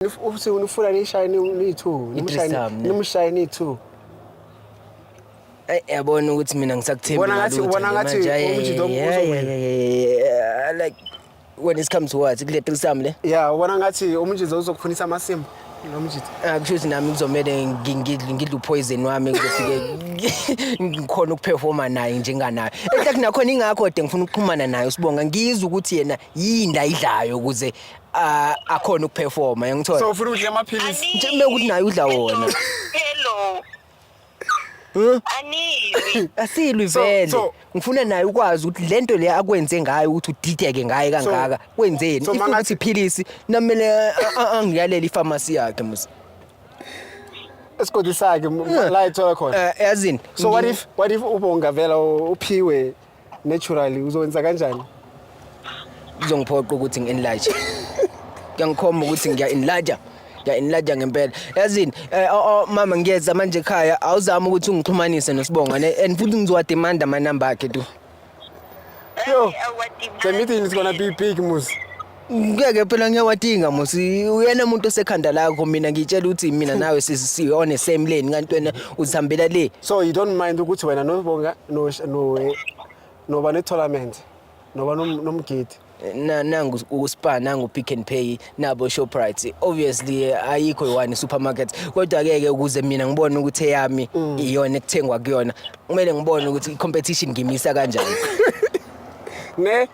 uthi unifuna nishaye niyi-two nimushaye niyi-two eyi yabona ukuthi mina ngisakuthembile ngathi ubona ngathi ukuthi lo uzowina like when it comes to what kule threesome le yeah ubona ngathi umjitha uzokufunisa amasimba nomjitha ah, kusho ukuthi nami kuzomele ngidle upoison wami ngizofike ngikhona ukuperforma naye njenganayo ehlathi nakhona ingakho de ngifuna ukuxhumana naye usibonga ngizwe ukuthi yena yini ayidlayo ukuze ah, akhona ukuperforma yangithola so ufuna udle amaphilisi Nje kumele ukuthi naye udla wona Hello. Huh? Anizwi. asilwi So- vele so- ngifuna naye ukwazi ukuthi lento le akwenze ngayo ukuthi udideke ngaye kangaka kwenzeni so if mangathi- ukuthi philisi namele a- a- angiyalele ifamasi yakhe musa esigodini sakhe m- la ethola khona Eh, yazini so what ngi- if what if ubongavela u- uphiwe naturally uzokwenza kanjani kuzongiphoqa ukuthi ngi-enlarge kuyangikhomba ukuthi ngiya-enlarge ngiya-enlarge ngempela yazini eh, oh, oh, mama ngiyeza manje ekhaya awuzame ukuthi ungixhumanise nosibonga ne and futhi ngizowademanda amanamba akhe tu yo the meeting is gonna be big muzi ngeke phela ngiyawadinga musi uyena umuntu osekhanda lakho mina ngitshela ukuthi mina hmm. nawe sisi on the same lane kanti wena uzihambela le so you don't mind ukuthi wena nobonga no no noba ne tournament noba nomgidi nangu uSpar nangu Pick and Pay nabo Shoprite obviously ayikho yiwani supermarket kodwa ke ke ukuze mina ngibone ukuthi eyami mm. iyona ekuthengwa kuyona kumele ngibone ukuthi competition ngimisa kanjani ne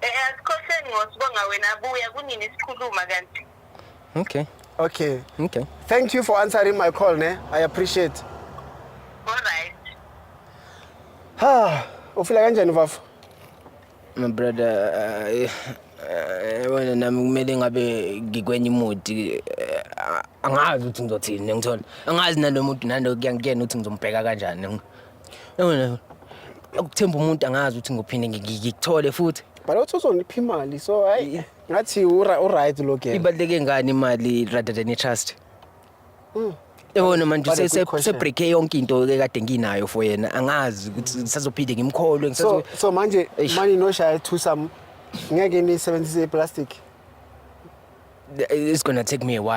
Eh asikhohleni ngosibonga wena buya kunini sikhuluma kanti. Okay. Okay. Okay. Thank you for answering my call ne. I appreciate. All right. Ha, ufila kanjani mfafo? My brother, eh, eh, wena nami kumele ngabe ngikwenye imodi eh, angazi ukuthi ngizothini ngithola angazi nalomuntu nalo kuyangikena ukuthi ngizombheka kanjani Yabona ukuthemba umuntu angazi ukuthi ngophinde ngikuthole futhi. Bhala ukuthi uzonipha imali so hayi ngathi uright lo girl. Ibaluleke ngani imali rather than i-trust? Mm. Yabona manje usebreak yonke into ekade nginayo for yena angazi ukuthi ngisazophinde ngimkholwe ngisazo So manje manje noshaya two some ngeke nisebenzise i-plastic. It's gonna take me a while.